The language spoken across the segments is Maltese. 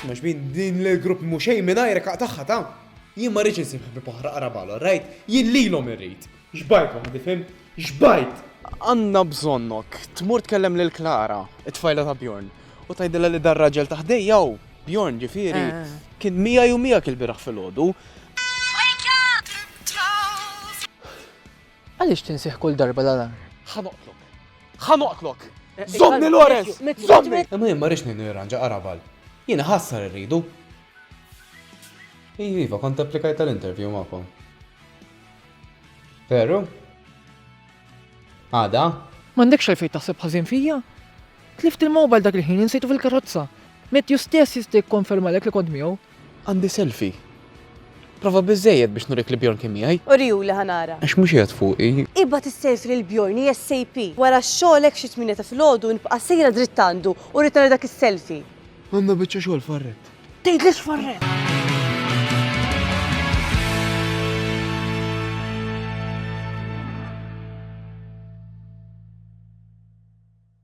Smax bin din l-grupp mhux xejn mingħajr kaq tagħha ta' jien ma rridx insib ħbib oħra qarabalhom, rajt? Jien lilhom irrid. Xbajt waħdi fim? Xbajt! Għandna bżonnok, tmur tkellem lil Klara, it-tfajla ta' Bjorn, u tgħidilha li dar raġel ta' ħdejja hu Bjorn ġifieri eh. kien miegħi u miegħek il-bieraħ filgħodu Għaliex tinsih kull darba l-alarm? Ħa noqtlok! Ħa noqtlok! Żommni Lawrence! Żommni! Imma jien ma rridx ngħinu jirranġa qaraval. Jien iħassar irridu. Iva, iva, kont applikajt għal interview magħkom. Veru? Għada? M'għandekx għalfejn taħseb ħażin fija? Tlift il-mobile dak il-ħin insejtu fil-karozza. Matthew stess jista' jikkonfermalek li kont miegħu. Għandi selfie. Prova biżżejjed biex nurik li Bjorn kien miegħi. Urihuli ħa nara. Għax mhux qiegħed fuqi. Ibgħat is-selfie lil Bjorn ASAP. Wara xogħlek xi tmienja ta' filgħodu nibqa' sejra dritt għandu u rrid nara dak is-selfie. Għandna biċċa xogħol f'Arrett. Tgħidlix f'Arrett!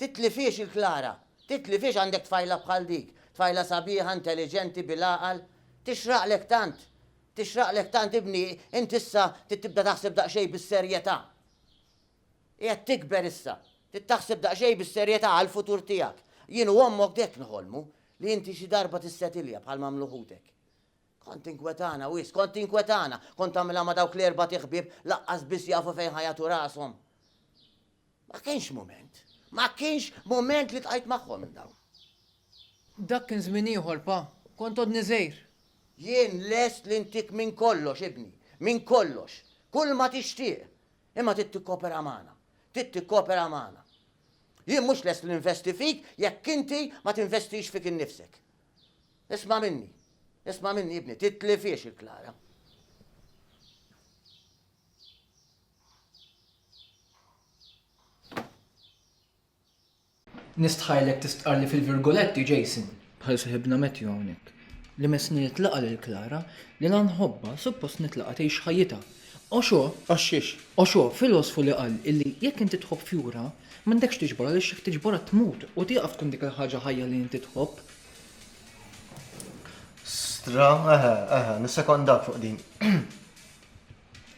Titlifhiex il-Klara. Titlifhiex għandek tfajla bħal dik. Tfajla sabiħa, intelliġenti, bil-għaqal. Tixraqlek tant. Tixraqlek tant ibni, int issa trid tibda taħseb daqsxejn bis-serjetà. Qiegħed tikber issa. Trid taħseb daqsxejn bis-serjetà għall-futur tiegħek. Jien u ommok d'hekk nħolmu, li inti xi darba tissetilja bħal m'għamlu ħutek. Kont tinkwetana wisq, kont tinkwetana. Kont tagħmilha ma' dawk l-erbat iħbieb laqqas biss jafu fejn ħa jagħtu rashom. Ma kienx mument. Ma kienx mument li ltqajt magħhom minn dawn. Dak kien żmien ieħor, Pa. Kont għodni żgħir. Jien lest li ntik minn kollox, ibni. Minn kollox. Kulma tixtieq. Imma trid tikkopera magħna. Trid tikkopera magħna. Jien mhux lest li ninvesti fik jekk inti ma tinvestix fik innifsek. Isma' minni. Isma' minni, ibni. Titlifhiex il-Klara. Nistħajlek tistqarrli fil-virgoletti, Jason, bħal seħibna Matthew hawnhekk, li messni nitlaqa' lil Klara li la nħobbha suppost nitlaqa' tgħix ħajjitha. Oxo! Għax-xiex? Oxo, filosfu li qal illi jekk inti tħobb fjura, m'għandekx tiġborha għaliex jekk tiġborha tmut u tieqaf tkun dik il-ħaġa ħajja li inti tħobb. Stra, eħe, eħe, nissekondak fuq din.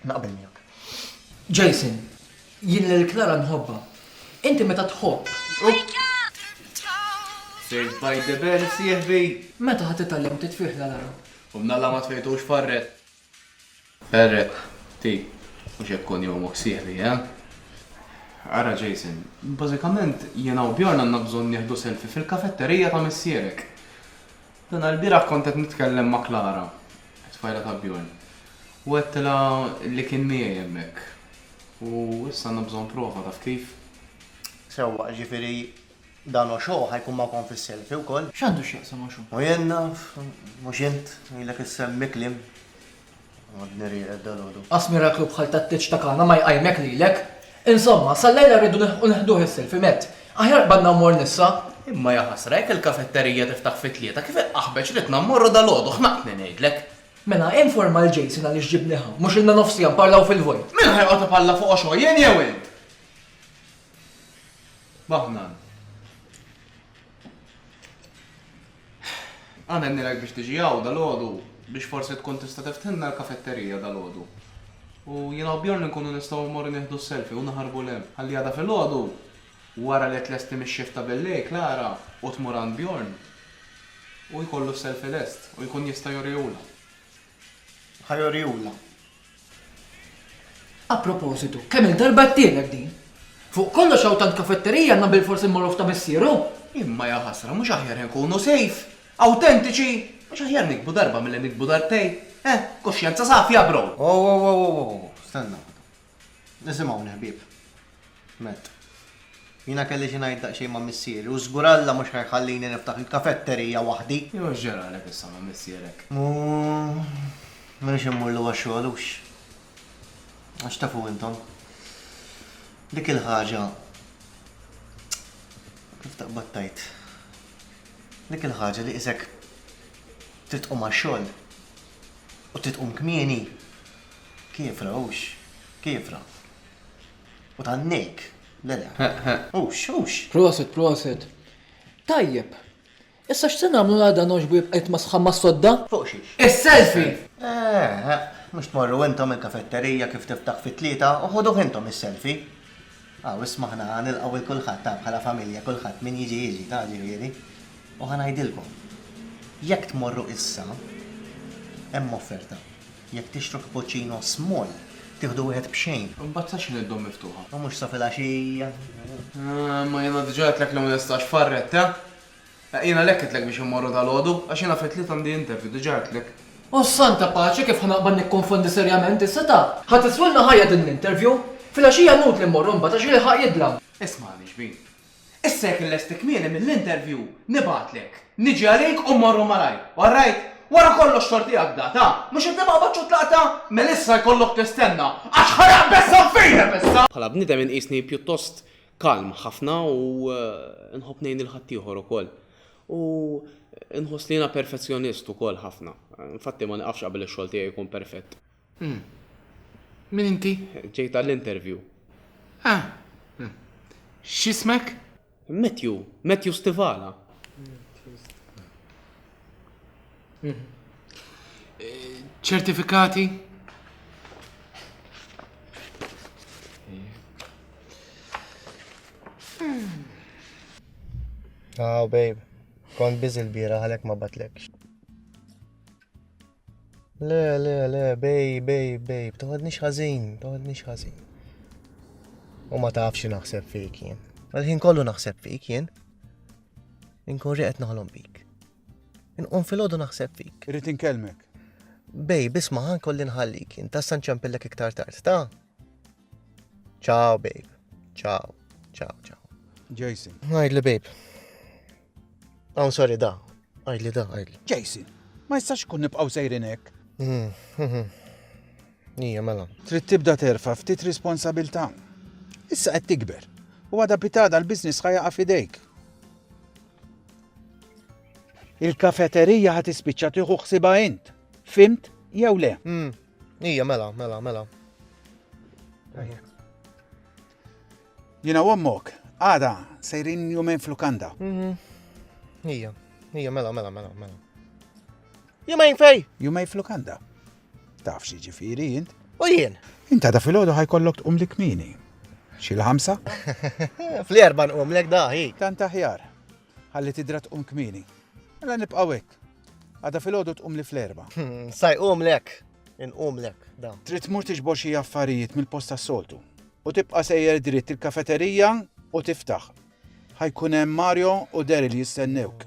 Naqbel miegħek. Jason, jien lil Klara nħobba. Inti meta tħobb. Saved by the bell, sieħbi. Meta ħadd itgħallem titfih la lara. U mnalla ma tfejtux farret. Ferret, ti, mhux hekk kun jomok sieħbi, eh? Ara Jason, bażikament jiena u Bjorn għandna bżonn nieħdu selfie fil-kafetterija ta' missierek. Dan għall-bieraħ kont qed nitkellem ma' Klara, it-tfajla ta' Bjorn, u għedtilha li kien miegħi hemmhekk. U issa għandna bżonn prova, taf kif? Sewwa, jiġifieri dan Osho ħa jkun magħkom fis-selfie wkoll? X'għandu x'jaqsam Osho? U jien naf, mhux int, ilek issemmi kliem. Għadni rieqed dalgħodu. Qas miraklu bħal tat-tieġ ta' Kana ma jqajmek lilek! Insomma, sal-lejla rridu nilħqu neħduh is-silf imett. Aħjar qbadna u mor nissa. Imma ja ħasra, jekk il-kafetterija tiftaħ fit-tlieta, kif il-qaħbeċ ridna mmorru dalgħodu, ħnaqtni ngħidlek! Mela, informa lil Jason għaliex ġibni hawn. Mhux ilna nofs siegħa nparlaw fil-vojt. Min ħa joqgħod ipalla fuqu xogħol, jien jew int? Bahnan. Amen nilek biex tiġi hawn dalgħodu biex forsi tkun tista' tiftħilna l-kafetterija dalgħodu. U jiena u Bjorn inkunu nistgħu mmorru nieħdu s-selfie u naħarbu 'l hemm. Ħalli għada filgħodu, wara li tlesti mix-shift ta' billejl Klara u tmur għand Bjorn, hu jkollu s-selfie lest u jkun jista' jurihulha. Ħa jurihulha. A propositu, kemm-il darba għedtilek din? Fuq kollox hawn tant kafetterija għandna bilfors immorru f'ta' missieru! Imma ja ħasra, mhux aħjar inkunu sejf? Awtentiċi? Mhux aħjar nikbu darba milli nikbu darbtejn? Eh? Kuxjenza safja, bro! Ow ow ow ow ow ow, stenna waħda. Isimgħuni ħbieb. Matt. Jiena kelli xi ngħid daqsxejn ma' missieri u żgur Alla mhux ħa jħallini niftaħ il-kafetterija waħdi. Jew x'ġralek issa ma' missierek? U m'iniex immurlu għax-xogħol hux? Għax tafu intom, dik il-ħaġa, kif taqbad tgħid, dik il-ħaġa li qisek trid tqum għax-xogħol. U trid tqum kmieni? Kiefra, hux, kiefra. U tgħannejk, le le. Hux, hux. Proset, proset. Tajjeb. Issa x'se nagħmlu l-għada nogħġbu jibqa' jitmasħħa mas-sodda? Fuq xiex? Is-selfie! Eħe, mhux tmorru intom il-kafetterija kif tiftaħ fit-tlieta u ħuduh intom is-selfie. Aw isma' aħna ħa nilqgħu 'il kulħadd, ta, bħala familja, kulħadd, min jiġi jiġi, ta, ġifieri, u ħa ngħidilkom, jekk tmorru issa, hemm offerta, jekk tixtru cappuccino small, tieħdu wieħed b'xejn. Imbagħad sa x'inhi d-domm miftuħa? U mhux sa filgħaxija? Imma jiena diġà għedtlek li ma nistax farret, ta? Jien għalhekk għidtlek biex immorru dalgħodu, għax jiena fit-Tliet għandi interview, diġà għidtlek. O Santa Paċi, kif ħa naqbad nikkonfondi serjament is-setgħa? Ħa tiswilna ħajja din l-interview! Filgħaxija inutli mmorru mbagħad għax jilħaq jidlam. Ismagħni xbin. Issa jekk illesti kmieni mill-interview, nibgħatlek. Niġi għalik u mmorru malajr. All right? Wara kollox xorta hi għad data. Mhux inti ma qbadtx u tlaqtha? Mela issa jkollok tistenna, għax ħa naqbeż saffinek issa! Bħala bniedem inqisni pjuttost kalm ħafna u eh, nħobb ngħin il-ħaddieħor ukoll. U eh, nħoss li jiena perfezzjonist ukoll ħafna. Infatti ma niqafx qabel ix-xogħol tiegħi jkun perfett. Hmm. Min inti? Ġejt għall-interview. Ah. Hmm. X'ismek? Matthew, Matthew Stivala. ċertifikati Oh, babe. Kont bizi l-bira għalek ma batlekx. Le, le, le, babe, babe, babe. Toħodni xħazin, toħodni xħazin. U ma tafx naħseb fik jien. Għalħin kollu naħseb fik jien. Inkun riqet naħlom bik. Inqum filgħodu naħseb fik. Irrid inkellmek. Bej, bisma ħan kolli nħallik, inta san ċempillek iktar tard, ta? Ciao, babe. Ciao, ciao, ciao. Jason. Għajdli, babe. Għawn sorry da. Għajdli da, għajdli. Jason, ma jistax kun nibqaw sejrin hekk. Hmm, hmm, hmm. Ija, mela. Trid tibda terfa ftit responsabilta. Issa qed tikber. U għada pitada l-biznis ħajja fidejk. Il-kafeterija ħa tispiċċa tieħu ħsibha int. Fimt jew le? Hmm. Ija, mela, mela, mela. Jina u ommok, għada, sejrin jumen flukanda. Mhm. Ija, ija, mela, mela, mela, mela. Jumejn fej? Jumejn flukanda. Taf xi ġifieri int? U jien? Inta da filgħodu ħajkollok tqum li kmini. Xi l-ħamsa? Fl-erba' nqum lek daħi. Tant aħjar. Ħalli tidra tqum kmini. Mela nibqgħu hekk. Għada filgħodu tqum li fl-erba'. Hmm, Saj qum lek. Inqum lek da. Trid tmur tiġbor xi affarijiet mill-post tas-soltu. U tibqa' sejjer dritt il-kafeterija u tiftaħ. Ħajkun hemm Mario u Daryl jistennewk.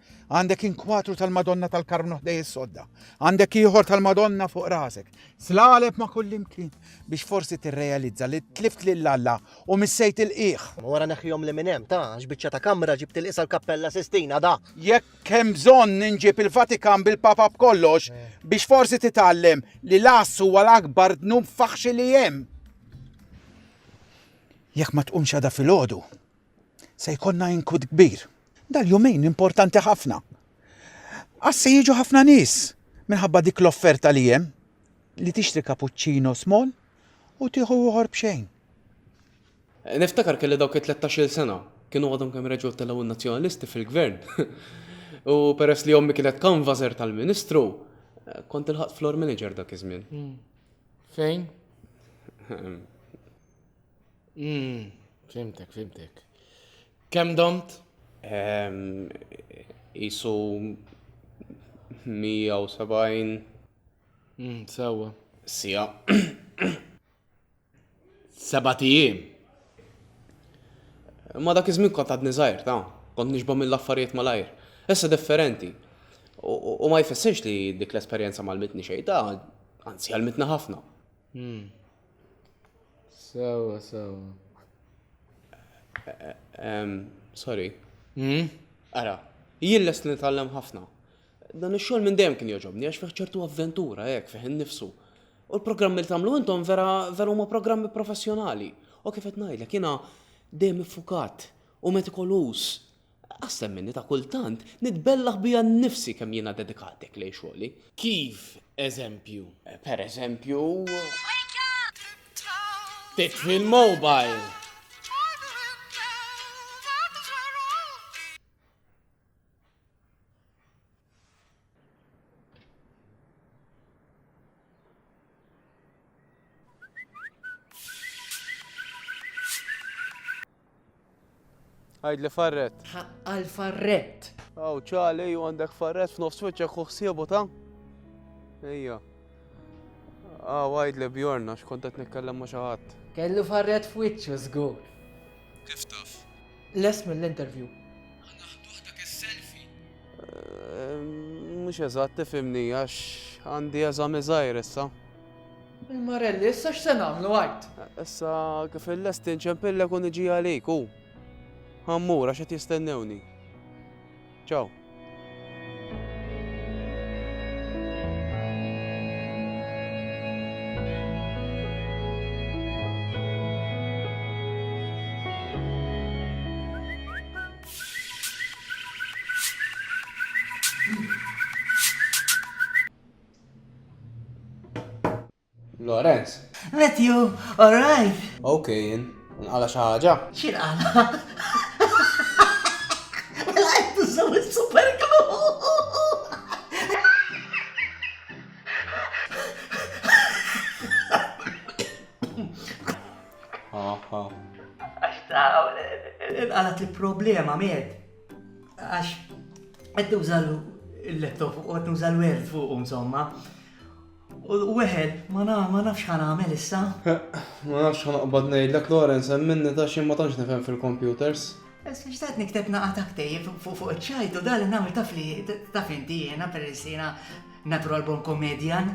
Għandek inkwatru tal-Madonna tal-Karmnu ħdej is-sodda. Għandek ieħor tal-Madonna fuq rasek. Slaleb ma' kullimkien biex forsi tirrealizza li tlift lil Alla u missejt il-qiegħ. Wara neħħihom li minn hemm ta' x'biċċa ta' kamra ġibt il-qisa l-Kappella Sistina da. Jekk hemm bżonn ninġib il-Vatikan bil-Papa b'kollox eh. biex forsi titgħallem li l-ass huwa l-akbar dnub faħxi li hemm. Jekk ma tqumx għada fil-ħodu, Se jkollna inkut kbir. Dal-jumejn importanti ħafna. Għas se jiġu ħafna nies minħabba dik l-offerta li hemm li tixtri cappuccino small u tieħu uħor b'xejn. Niftakar kelli dawk it-13-il sena, kienu għadhom kemm reġgħu telgħu n-Nazzjonalisti fil-Gvern. U peress li ommi kienet kanvażer tal-Ministru, kont il-ħadd floor manager dak iż-żmien. Hmm. Fejn? Mm, fimtek, fimtek. Kem domt? Ehm, isu 170. Mm, sewa. Sija. Seba tijiem. Ma dak iż-żmien kont għadni żgħir, ta' kont nixba mill-affarijiet malajr. Issa differenti. U ma jfessirx li dik l-esperjenza mal-mitni xejn, ta' anzi għal-mitna ħafna. Hmm. Sewa, sewa. Sorry. Hmm? Ara, jien lest li nitgħallem ħafna. Dan ix-xogħol minn dejjem kien joġobni għax fih ċertu avventura hekk fih innifsu. U l-programmi li tagħmlu intom vera vera huma programmi professjonali. U kif qed ngħidlek jiena dejjem iffukat u metikolus Aqsem minni ta' kultant nitbellaħ bija nnifsi kemm jiena dedikat hekk lejn xogħli. Kif eżempju? Per eżempju. Titfi l-mobile! Għajdli farret. Għal farret. Aw, ċali, ju għandek farret f'nofs wiċċek u ħsiebu ta' Ejja. Ah, wajd li bjorna, xkont qed nitkellem ma' xaħat. Kellu farret f'wiċċu żgur. Kif taf? Les mill-interview. Mhux eżatt tifhimni għax għandi eżami żgħir issa. Il-Marelli, issa x'se nagħmlu għid? Issa kif illesti nċempillek u niġi għalik u ħammur għax qed jistennewni. Ciao. Lorenz. Matthew, alright. Ok, jien. Nqala xi ħaġa? X'in qala? Mela qed tużaw is-super Għax ta' il-problema, med. Għax, qed nuża l-laptop u qed nuża l-word fuq, insomma. U weħel, ma nafx ħan għamel issa. Ma nafx ħan għabad nejdlek, Lorenz, minni ta' xie ma tantx nifhem fil-computers. Issa xtaqt nikteb naqa ta' ktejjeb fuq iċ-ċajt u dal nagħmel taf li taf inti jiena peress jiena natural born comedian.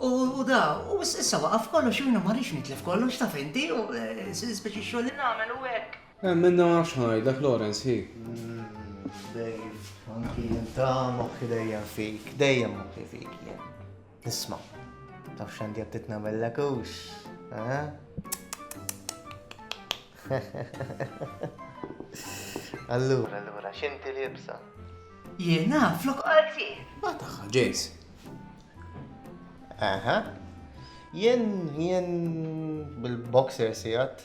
U da, u issa waqaf kollox jiena ma rridx nitlef kollox taf inti u eh, speċi xogħol li nagħmel u hekk. Emminna ma nafx ħanajdlek Lawrence, hi. Dave, anki jien ta' moħħi dejjem fik, dejjem moħħi fik jien. Isma, taf xandi għattit namillek ux, eh? Allura, allura, xinti li jibsa? Jena, flok għalti. Ma taħħa, James. Aha. Jien, jien bil-boxer sijat.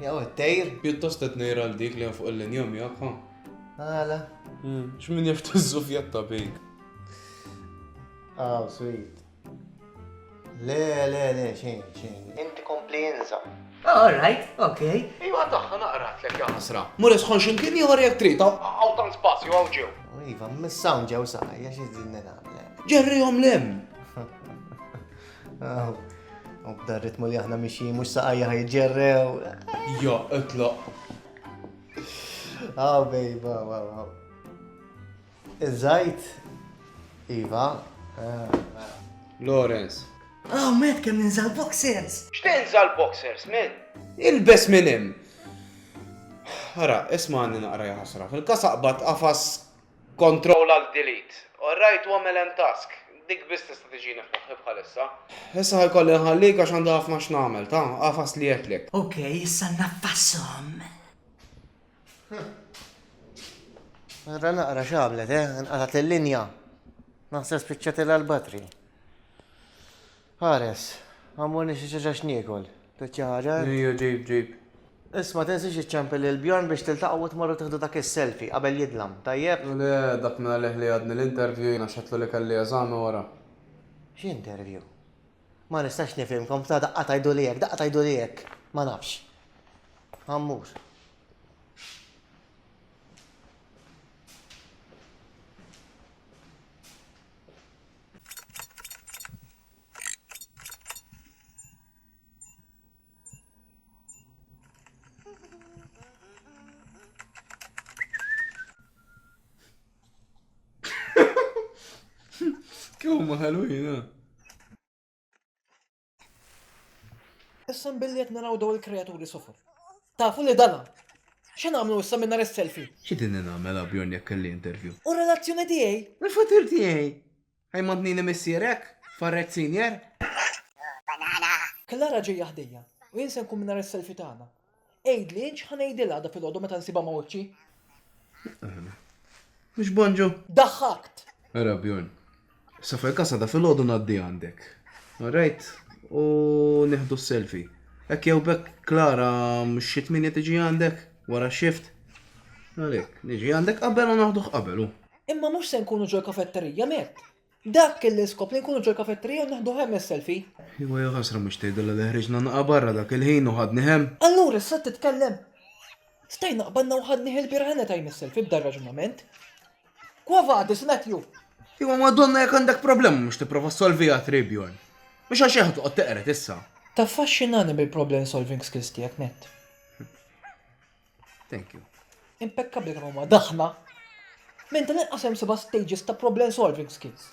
Jew it-tejr? Pjuttost qed ngħir għal dik li hemm fuq il-linja miegħek, ha? Għala? Hmm, x'min jaf tiżżufjatta bik. Aw, sweet. Le, le, le, xejn, xejn. Inti kompli inża. All right, okay. Iva daħħa naqrat lek jasra. Mur isħon ximkien ieħor jekk trid. Għaw tan spazju għaw ġew. Iva, missawn ġew saqajja xi żidni nagħmel. Ġerrihom lem. U b'dan ritmu li aħna mixi mhux saqajja ħajġerrew. Jo, itloq. Ah, bejba, wow, wow. Iż-żajt, Iva. Lawrence. Ah, met kemm ninżal boxers. X'tinżal boxers, men? Il-bes minn hemm. Ara, isma' għandi naqra ħasra. Fil-kasaqba tqafas Control Alt Delete. Orrajt u għamel End Task. Dik biss tista' tiġini f'moħħi bħalissa. Issa ħa jkolli nħallik għax għandi ħafna x'nagħmel. Ta, agħfas li jetlek. Ok, issa ngħaffashom. Ara naqra x'għamlet, eh? Inqatgħet il-linja. Naħseb spiċċatilha l-batri. Hares, Għammurni xi ċaċa x'niekol. Tridx xi ħaġa int? Ejja ġib ġib. Issa ma tinsiex iċċempel lil Bjorn biex tiltaqgħu u tmorru tieħdu dak is-selfie qabel jidlam, tajjeb? Le, dak minn għalih li għadni l-interview jiena xedtlu li kelli eżami wara. X'interview? Ma nistax nifhimkom, f'ta' daqqa tgħiduli hekk, daqqa tgħiduli hekk. Ma nafx. Għammur. Kienu ma ħalwina. Issa billi qed naraw daw il-kreaturi sofor. Tafu li dana. X'in għamlu issa minn nhar is-selfie? Xi din nagħmel Bjorn jekk kelli interview? U relazzjoni tiegħi? U fatir tiegħi? Ej mantnini missierek? Farret senior? Klara ġejja ħdejja u jien se nkun minn nhar is-selfie tagħna. Għidli, x'ħa ngħidilha għada filgħodu meta nsibha ma' wiċċi? Mhux Bonġu? Daħħakt! Ara Bjorn. Sa fil-każ għada filgħodu ngħaddi għandek. Alright? U nieħdu s-selfie. Hekk jew bekk Klara mhux xi tminja tiġi għandek wara x-shift. Għalhekk, niġi għandek qabel u naħduh qabel. Imma mhux se nkunu ġol-kafetterija, Mett. Dak kien l-iskop li nkunu ġol-kafetterija u neħdu hemm is-selfie. Iwa ja ħasra mhux tgħidilha li ħriġna naqgħa barra dak il-ħin u ħadni hemm. Allura issa qed titkellem? Stajna qbadna u ħadnih il-bieraħ any time is-selfie b'dan raġunament. Quo vadis, Matthew? Iwa Madonna jekk għandek problema mhux tipprova ssolviha tri, Bjorn. Mhux għax hekk toqgħod teqred issa. Taffaxxinani bil-problem solving skills tiegħek, Matt. Thank you. Impeccabli kemm huma daħna. Minn tal inqas hemm seba' stages ta' problem solving skills.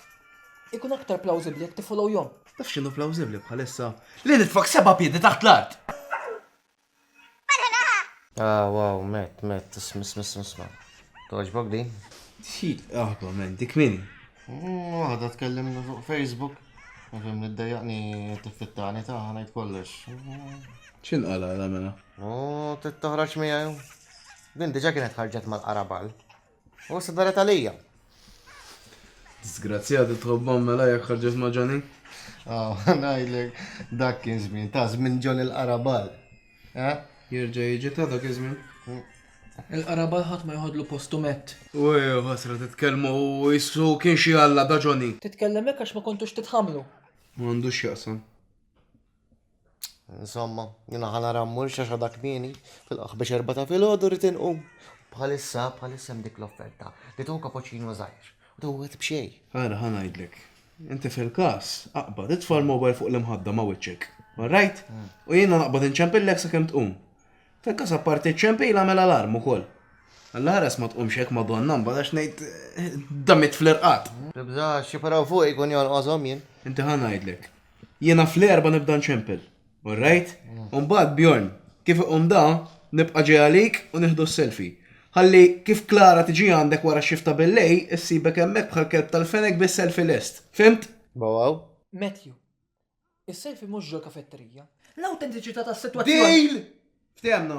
Ikun aktar plawsibbli jekk tifollow jom. Taf x'inhu plawsibbli bħalissa? Li nitfak seba' piedi taħt l-art! Ah, wow, Matt, Matt, isma, isma, isma, isma. Toġbok din? Xi aħba men, dik min? Mm, waħda tkellimni fuq Facebook. Nifhem li ddejjaqni tiffittani ta' ħanajt kollox. X'inqala la mela? U tittoħroġ miegħu. Din diġa kienet ħarġet mal-qarabal. U s daret għalija. Disgrazzjati tħobbom mela jek ħarġet ma' Johnny. Oh, najlek, dak kien żmien, ta' żmien Johnny l-qarabal. Eh? Jirġa jiġi ta' dak iż-żmien. Mm. Il-qarabal ħadd ma jħodlu postu mett. U ħasra titkellmu u jissu kien xi alla da Johnny. Titkellem hekk għax ma kontux titħamlu. M'għandux jaqsam. Insomma, jina ħana rammur xaxa dak kmieni, fil-qaħ biex erba ta' fil-ħodu rritin u. Bħalissa, bħalissa dik l-offerta, li tu kapoċinu zaħir, u tu għet bxej. Għara, ħana jidlek. Inti fil-kas, aqba, titfa l-mobile fuq l-imħadda ma' wicċek. Alright? Mm. U jina naqbad inċempillek sa' kem tqum. Fil-kas apparti ċempil għamel alarm u koll. Għall-ħares ma tqumx hekk ma donna mbagħad ngħid eh, damit fl-irqat. Tibżax, jiparaw fuq ikun jolqoshom jien. Inti ħa ngħidlek, Jiena fl-erba nibda nċempel. Alright? Umbagħad Bjorn, kif iqum da, nibqa' ġej għalik u nieħdu s-selfie. Ħalli kif Klara tiġi għandek wara x-shift ta' billejl, issibek hemmhekk bħal kelb tal-fenek bis-selfie lest. Fhimt? Waww. Matthew, Is-selfie mhux ġol-kafetterija. L-awtentiċità tas-sitwazzjoni. Deal! Ftehemna.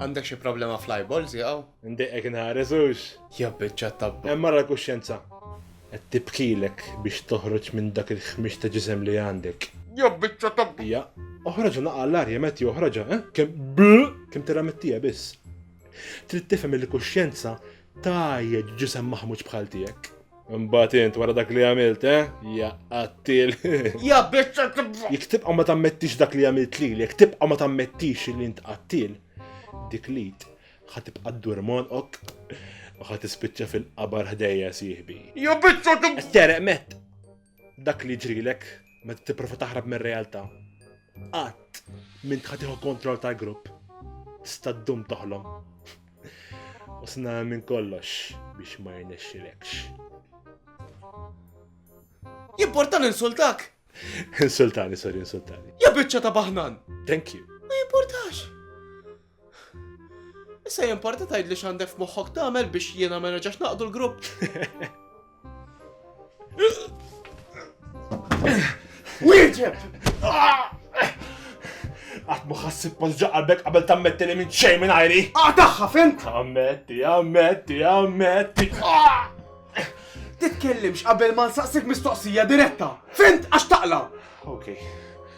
Għandek xi problema fl-eyeballs jaqgħu? Ndiqek inħares hux. Jabbiċċa tabba. Hemm mara l-kuxjenza. Qed tibkilek biex toħroġ minn dak il-ħmix ta' ġisem li għandek. Jabbiċċa tabba. Hija, oħroġ naqa' l-arja meti joħroġha, eh? Kemm bl kemm tiramettija biss. Trid tifhem il-kuxjenza Tajjeb, ġisem maħmuġ bħal tiegħek. Mbagħad int wara dak li għamilt, eh? Ja qattil. Ja biċċa tibqa'. Jekk tibqa' ma tammettix dak li għamilt lili, jekk tibqa' ma tammettix li int qattil, dik li ħa tibqa' ddur monqok u ħa tispiċċa fil-qabar ħdejja sieħbi. Ja biċċa tibqa'. Tereq met. Dak li ġrilek meta tipprova taħrab mir-realtà. Qatt minn tħatiħu kontroll tal-grupp. Tista' ddum toħlom. U sna minn kollox biex ma jirnexxilekx. Jimportan insultak? Insultani, sorry, insultani. Ja biċċa ta' baħnan. Thank you. Ma jimportax. Issa jimporta tajd li xandek f'moħħok tagħmel biex jiena ma nerġax naqdu l-grupp. Wieġeb! Għat muħassib pos ġaqalbek qabel tammetti li minn xej minn għajri. Għataħħa ah, fint! Ammetti, ammetti, ammetti. Ah! Titkellimx qabel ma nsaqsik mistoqsija diretta. Fint għax taqla. Okay.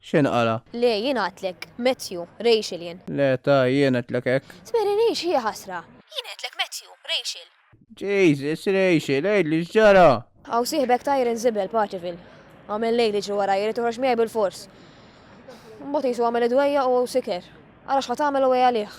X'inhu qala? Le, jien għidtlek, Matthew, Rachel jien. Le, ta, jien għidtlek hekk. Tmeri Rachel hija ħasra. Jien għidtlek, Matthew, Rachel. Jesus, Rachel, għidli x'ġara? Hawn sieħbek tajr inżibel, Partivil. Għamel lejl iġri warajja li toħroġ miegħi bil-fors. Mbagħad qisu għamel id-dwejjaq u siker. Ara x'ħa tagħmel u għalih.